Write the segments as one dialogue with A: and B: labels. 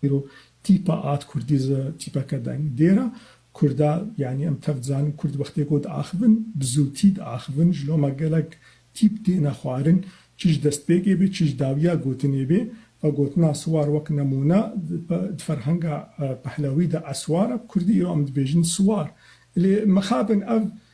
A: Îro tîpa ad kurdî zi tîpeke deng dêr a. Kurd a yanî em tev dizanin kurd wextê ku diaxivin bi zûtî diaxivin ji loma gelek tîp têne xwarin çi ji destpêkê bê çi ji dawiya gotinê bê. Ve gotina siwar wek nemûne di ferhenga pehlewî de eswar e bi kurdî îro em dibêjin siwar. Lê mixabin ev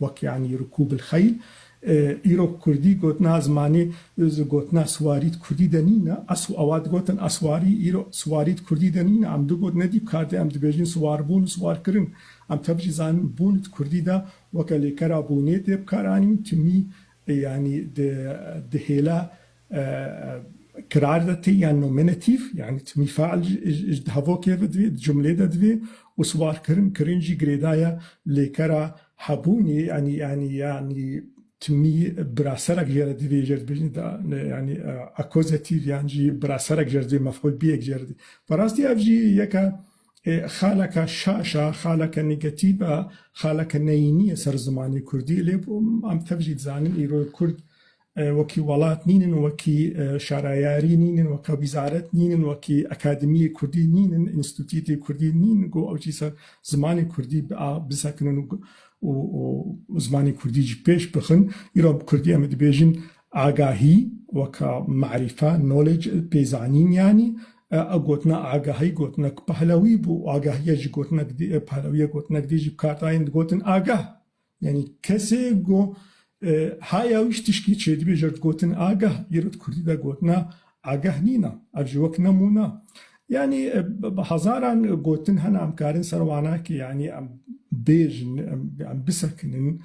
A: Wek yanî Rikûb il Xeyl. Îro kurdî gotina zimanê gotina siwarî di kurdî de nîn e. Esw ewa digotin eswarî, îro siwarî di kurdî de nîn e. Em digot ne dî bi kar de em dibêjin siwarbûn û siwarkirin. Em tev jî zanin bûn di kurdî de weke lêkera bûnê tê bikaranîn. Timî yanî di di hêla Kirar de tê ya nominatîf yanî timî fe'l ji dehavokê ve divê, di cumlê de divê û siwarkirin kirin jî girêdaya lêkera hebûnê yanî yanî yanî timî biraserek jê re divê jê re dibêjin da yanî akozatîf yan jî biraserek jê re divê mef'ul bîyek jê re divê. Bi rastî ev jî yeke xaleke şaş a, xaleke negatîf a, xaleke neyînî ye ser zimanê kurdî lê em tev jî dizanin îro kurd wekî welat nînin, wekî şarayarî nînin, weka wîzaret nînin, wekî akademîyê kurdî nînin, înstîtûtê kurdî nînin ku ew jî ser zimanê kurdî a bisekinin û zimanê kurdî jî pêş bixin. Îro bi kurdî em ê dibêjin agahî weka marîfe, knowledge, pê zanîn yanî. Ew gotina agahî gotinek pehlewî bû û agahîye jî gotinek dê, pehlewîye gotinek dê jî bi kar tayên digotin agah. Yanî kesê go ha yawiş tişkî çêdibêje gotin agah îro di kurdî de gotina agah nîna ev ji wek nemûna yanî bi hezaran gotin hene em karin ser wana ki yanî em bêjin em bisekinin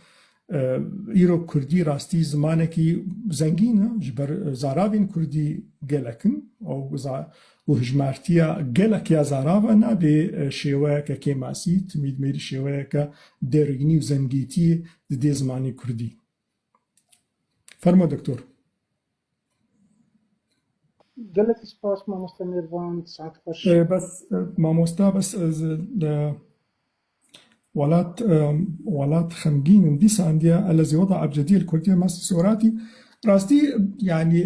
A: îro kurdî rastî zimanekî zengîn e ji ber zarabên kurdî gelek in û Ku hijmartiya gelek ya zaravan a dê şêweyeke kêmasî, timîdmêrî şêweyeke derînî û zengîtî di dê zimanê kurdî. Fermo doktor. Gelekî spas mamoste mêrvan, saet xweş. Bes mamoste bes ez Welat welat xemgîn in dîsa indiya elezê wada ebcedî li kurdiyê ma sîsê weratî rastî yanî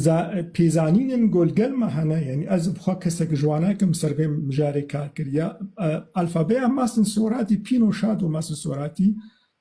A: za pêzanînên ku li gel ma hene yanî ez bi xwe kesek ji wan nakim ser vê mijarê kar kiriya alfabeya ma sîsê weratî pîno şado ma sîsê weratî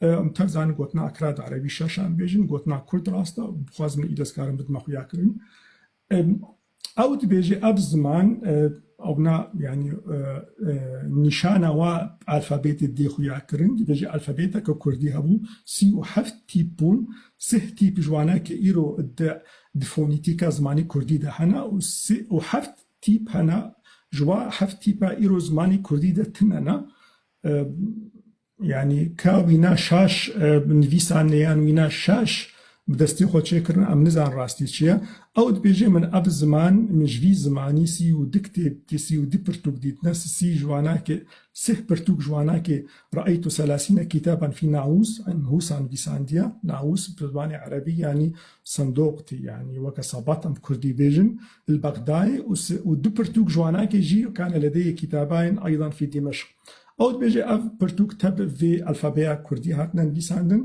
A: Em tev zanîn gotina akra di erebî şaşa em bêjin, gotina kurd rast e, bixwaz min îdes karim bidime xuya kirin. Ew dibêje ev ziman ewna yanî nîşana wa alfabêtê dê xuya kirin, dibêje alfabêteke kurdî hebû sî û heft tîp bûn, sih tîp ji wana ke îro di di fonîtîka zimanê kurdî de hene û sih û heft tîp hene ji wa heft tîpa îro zimanê kurdî de tune ne. Yanî ka wîna şaş bi nivîsan nêyan wîna şaş bi destê xwe çêkirin em nizan rastî çi ye. Ew dibêje min ev ziman min ji vî zimanî sî û du kitêb dî sî û du pirtûk dîtine si sî ji wanakê sih pirtûk ji wanakê Ra'eytu selasîne kîtaban fî Naûs in Hûsa nivîsandiye. Naûs bi zimanê erebî yanî sindoq tê yanî weke sebat em bi kurdî bêjin il Bexdayê û si û du pirtûk ji wanakê jî kane ledeyê kîtabain eydan fî Dîmeşq. Ew dibêje ev pirtûk tevb vê elfebeya kurdî hatine nivîsandin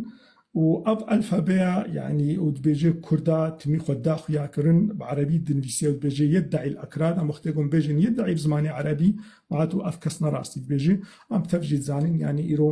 A: û ev elfebeya yanî ew dibêje kurda timî xwe da xuyakirin bi erebî dinivîse ew dibêje yedda'îl ekrad em wextê ku em bêjin yedda'î bi zimanê erebî, ma tu ev kes ne rastî dibêje em bi tev jî dizanin yanî îro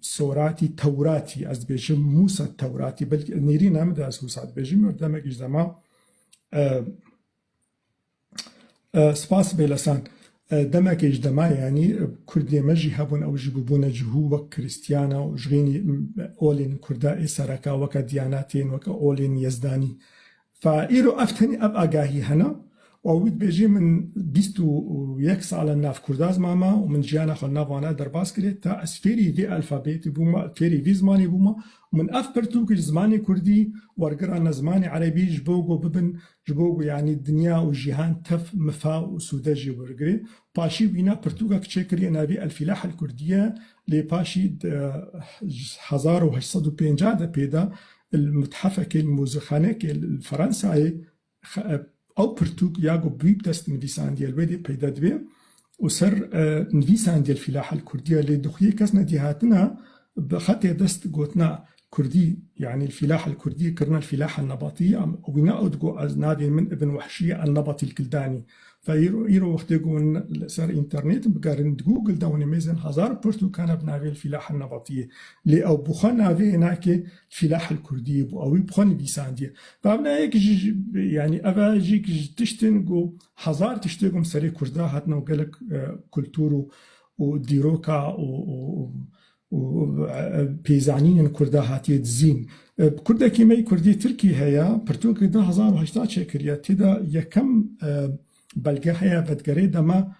A: Soratî Tewratî ez dibêjim Mûsa Tewratî belkî nêrîn em de ez Hûsa dibêjim û demekî ji dema Spas bê lesan. Demekê ji dema yanî kurdê me jî hebûn ew jî bûbûne cihû wek krîstiyana û ji xênî olên kurda ê sereka weke diyanatên weke olên yezdanî Fa, îro ev tenê ev agahî hene û wî dibêjê min bîst û yek sal e nav kurda zimama û min jiyana xwe li nav wan e derbas kirê ta ez fêrî vê alfabetê bûma, fêrî vê zimanê bûma û min ev pirtûk ji zimanê kurdî wergira ne zimanê erebî ji bo ku bibin ji bo ku yanî dinya û jîhan tev mifa û sûde jê wergirê. Paşî wîna pirtûkek çêkiriye navê El Filah El Kurdiye Lê paşî di hezar û heşt sed û pêncah de pê da li methefekê, li muzîkxanekê li Fransayê ew pirtûk ya ku Bûyî bi dest nivîsandiye li wê dê peyda dibe û ser nivîsandiye li Fîlaha li Kurdî ye. Lê dixuyê kes ne dî hatina bi xetê dest gotina Kurdî, yanî îlfîlah elkurdî, kirina îlfîlah elnebatî ya min. Û wîna ew digot, Ez navê min Ibn Wehşî ye elnebatî elkildanî. Ve îro îro wextê ku hûn li ser înternetin bigerînin, di Google de hûn ê mêzin hezar pirtûkane bi navê îlfîlah elnebatî yê. Lê ew bi xwe navê nake îlfîlah elkurdî yê, bo ew ê bi xwe nivîsandiye. Bamna yek ji yanî ev e yek ji tiştin ku hezar tiştê ku bi serê kurda hatin û gelek kultûr û dîroka û û pê zanînên kurda hatiye dizîn. Kurdekî me yê kurdî tirkî heye, pirtûkê du hezar û heştad çêkiriye, tê de yekem belge heye vedigerê dema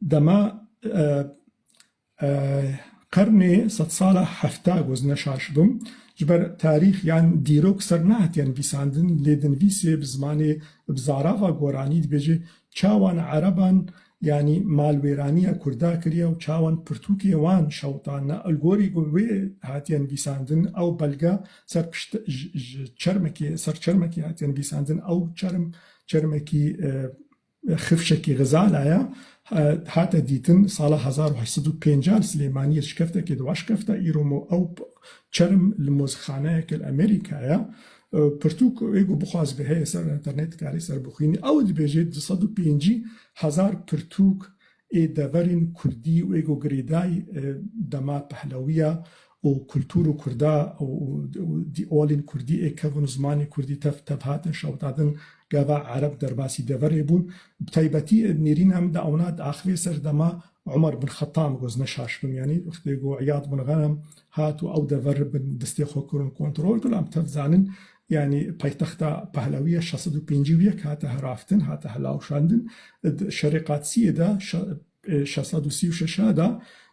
A: dema qernê sedsala hefta goz neşaş bû. Ji ber tarîx yan dîrok ser nehatiye nivîsandin lê di nivîsê bi zimanê bi zarava goranî dibêje çawan ereban Yanî malwêraniya Kurda kiriye û çawan pirtûkê wan şewitane. Li gorî ku wê hatiye nivîsandin ew belge ser pişt ji çermekê ser çermekê hatiye nivîsandin. Ew çerm çermekî xifşekî Xizala ye. Hate dîtin sala hezar û heşt sed û pêncah li Silêmaniyê şikeftekê di waşkefta îro ew çerm li mozixaneyeke li Amerîkayê ye. Pirtûk wê ku bixwaze heye ser înternet dikarê ser bixwînî. Ew dibêje du sed û pêncî hezar pirtûk ê deverên kurdî wê ku girêday dema pehlewîya û kultûr û kurda û dîalên kurdî ê kevin û zimanê kurdî tev tev hatin şewitadin gava ereb derbasî deverê bûn. Bi taybetî nêrîna min de ewna diaxivê ser dema Umar bin Xetam ku ez ne şaş bim yanî wextê ku Îyad bin Ghenem Hat û ew dever bin destê xwe kirin kontrol. Gulam tev zanin yanî paytexta Pahlawi ye şeş sed û pêncî û yek hate heraftin, hate hilawşandin. Di şerê Qadsiyê de şeş sed û sî û şeş de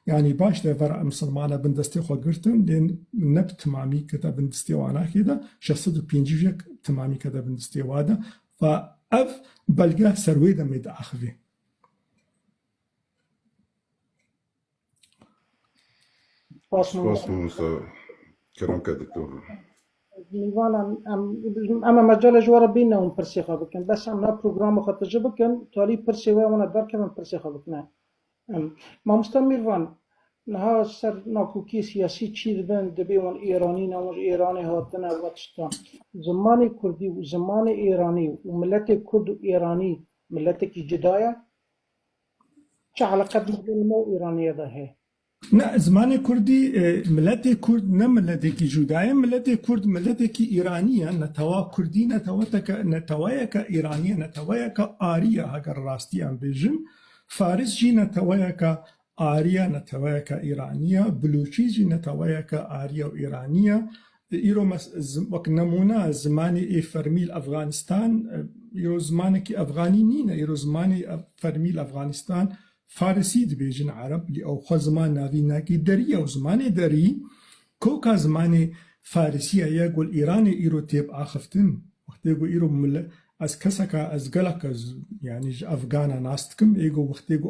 A: yanî baş dever misilmane bin destê xwe girtin lê ne bi timamî kete bin destê wan a kê de şeş sed û pêncî û yek bi timamî kete bin destê wan de va ev belge ser wê demê diaxivê. Spas mamosta. Kerem ke doktor. Nîvan em em em em mecalê ji were bîne hûn pirsê xwe bikin. Bes em na programa xwe tije bikin, talî pirsê wê wana derkevin pirsê xwe bikine. Em mamosta Mîrvan niha ser nakokî siyasî çî dibin dibê wan Îranî ne wan ji Îranê hatine û tiştan. Zimanê Kurdî û zimanê Îranî û miletê Kurd û Îranî miletekî cida ye? Çi eleqe di navbera me û Îraniyê de heye? Ne, zimanê kurdî, miletê kurd ne miletekî cuda ye. Miletê kurd miletekî îranî ye. Netewa kurdî netewateke netewayeke îranî ye, netewayeke arî ye heger rastiyan bêjin. Faris jî netewayeke arî ye, netewayeke îranî ye. Bilûçî jî netewayeke arî ye û îranî ye. Îro wek nemûne zimanê ê fermî li Efganistan îro zimanekî efganî nîne. Îro zimanê fermî li Efganistan farisî dibêjin ereb lê ew xwe ziman navîn nake. Derî ye û zimanê derî koka zimanê farisîye ye ku li Îranê îro tê biaxiftin. Wextê ku îro ez keseka ez geleka yanî ji efgana nas dikim ê ku wextê ku